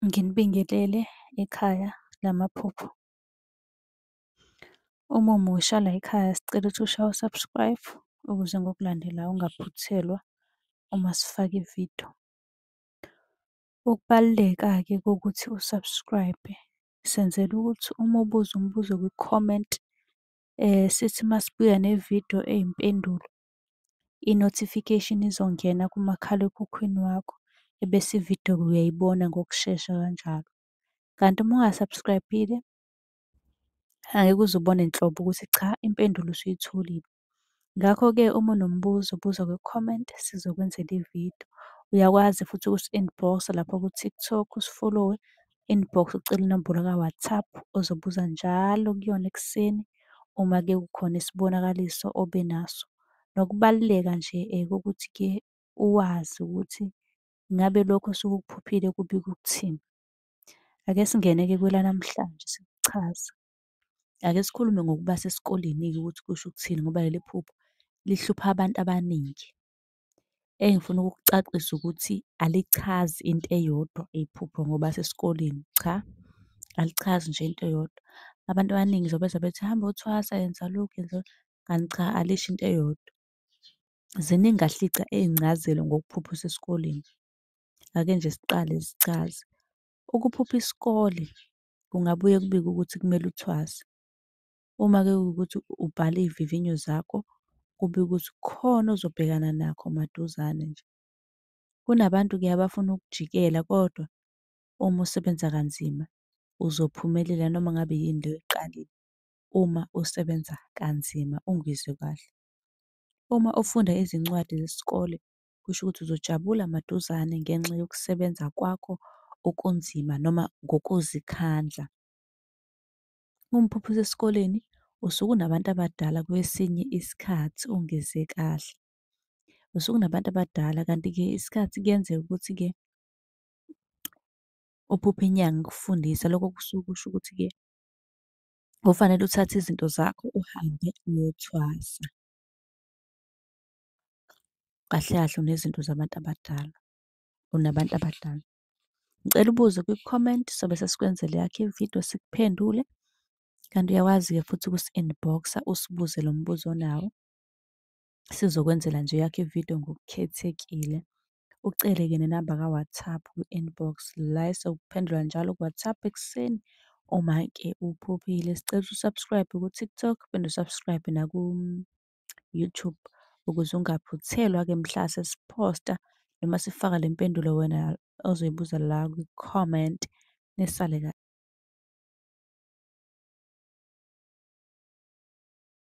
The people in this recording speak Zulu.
Nginibingelele ekhaya lamaphupho. Uma umusha la ekhaya sicela ukuthi ushaye u-subscribe ukuze ngokulandela ungaphuthelwa uma sifaka ividiyo. Ukubaluleka-ke kokuthi u-subscribe senzela ukuthi uma ubuza umbuzo kwi-comment sithi uma sibuya nevidiyo eyimpendulo i-notification izongena kumakhalekhukhwini wakho ebese ividiyo-ke uyayibona ngokushesha kanjalo. Kanti uma unga-subscribe-ile angeke uze ubone nhlobo ukuthi cha impendulo usuyitholile. Ngakho-ke uma unombuzo buza kwi-comment sizokwenzela ividiyo. Uyakwazi futhi ukusi-inbox-a lapha ku-TikTok usifolowe inbox ucele inombolo ka-WhatsApp ozobuza njalo kuyona ekuseni uma ke kukhona isibonakaliso obe naso. Nokubaluleka nje eh, kokuthi ke uwazi ukuthi ngabe lokho osuke ukuphuphile kubika ukuthini. Ake singene-ke kwelanamhlanje sikuchaza. Ake sikhulume ngokuba sesikoleni-ke ukuthi kusho ukuthini ngoba leli phupho lihlupha abantu abaningi. engifuna ukukucacisa ukuthi alichazi into eyodwa iphupho ngoba sesikoleni, cha alichazi nje into eyodwa. Abantu abaningi nje bezwa bethi hamba yothwasa, yenza lokhu, yenza lokhu, kanti cha alisho into eyodwa. Ziningi kahle iy'gca iy'ncazelo ngokuphupha usesikoleni. Ake nje siqale zichaze. Ukuphupha isikole kungabuye kubikwe ukuthi kumele uthwase. Uma-ke kuwukuthi ubhala iy'vivinyo zakho, kube ukuthi khona ozobhekana nakho maduzane nje. Kunabantu-ke abafuna ukujikela kodwa uma usebenza kanzima uzophumelela noma ngabe yini le oyiqalile, uma usebenza kanzima ungizwe kahle. Uma ufunda izincwadi zesikole, kusho ukuthi uzojabula maduzane ngenxa yokusebenza kwakho okunzima noma ngokuzikhandla. Umphupha usesikoleni usuke unabantu abadala kwesinye isikhathi ungeze kahle. Usuke unabantu abadala kanti-ke isikhathi kuyenzeka ukuthi-ke uphuphe inyanga ikufundisa. Lokho kusuke kusho ukuthi-ke kufanele uthathe izinto zakho uhambe uyothwasa. Kahle kahle unezinto zabantu abadala, unabantu abadala. Ngicela ubuze kwi-comment sobe sesikwenzela yakhe ividiyo sikuphendule. Kanti uyawazi-ke futhi ukusi-inbox-a usibuze lo mbuzo onawo. Sizokwenzela nje yakhe ividiyo ngokukhethekile. Ucele-ke nenamba ka-WhatsApp kwi-inbox la esokuphendula njalo ku-WhatsApp ekuseni uma-ke uphuphile. Sicela usu-subscribe ku-TikTok, phinde u-subscribe naku YouTube ukuze ungaphuthelwa-ke mhla sesiphosta noma sifaka le mpendulo wena ozoyibuza la kwi-comment nisale kahle.